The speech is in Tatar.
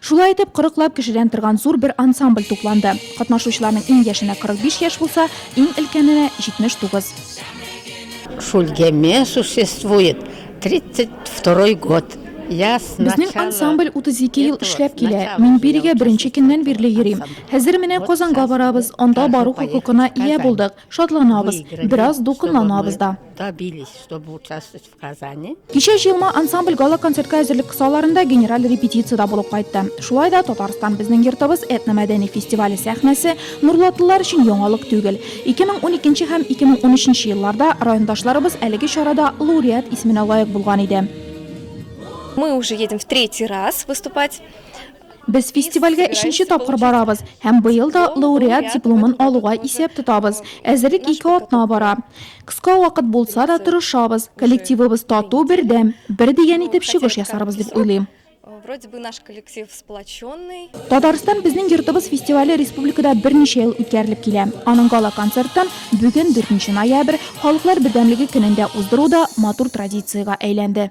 Шулай итеп, кырыклап кешедән торган зур бер ансамбль тупланды. Катнашучыларның иң яшенә 45 яшь булса, иң өлкәненә, 79. Шульгеме существует тридцать второй год. Я с начала... Безнең ансамбль 32 ел эшләп килә. Мин бирегә беренче көннән бирле йөрим. Хәзер менә Казанга барабыз, анда бару хокукына ия булдык. Шатланабыз, бераз дулкынланабыз да. Добились, чтобы участвовать. Казани. Кичә җыелма ансамбль гала-концертка әзерлек кысаларында генераль репетициядә булып кайтты. Шулай да Татарстан безнең йортыбыз этномәдәни фестивале сәхнәсе нурлатлылар өчен яңалык түгел. 2012 һәм 2013 елларда райондашларыбыз әлеге чарада лауреат исеменә лаек булган иде. Мы уже едем в третий раз выступать. Без фестивальгә өченче тапкыр барабыз һәм быел да лауреат дипломын алуга исәп тотабыз. Әзерлек ике атна бара. Кыска вакыт булса да, тырышабыз. Коллективыбыз тату, бердәм. Бер дигән итеп чыгыш ясарбыз дип уйлыйм. Татарстан безнең йортыбыз фестивале республикада берничә ел үткәрелеп килә. Аның гала-концертын бүген, дүртенче ноябрь, Халыклар бердәмлеге көнендә уздыру да матур традициягә әйләнде.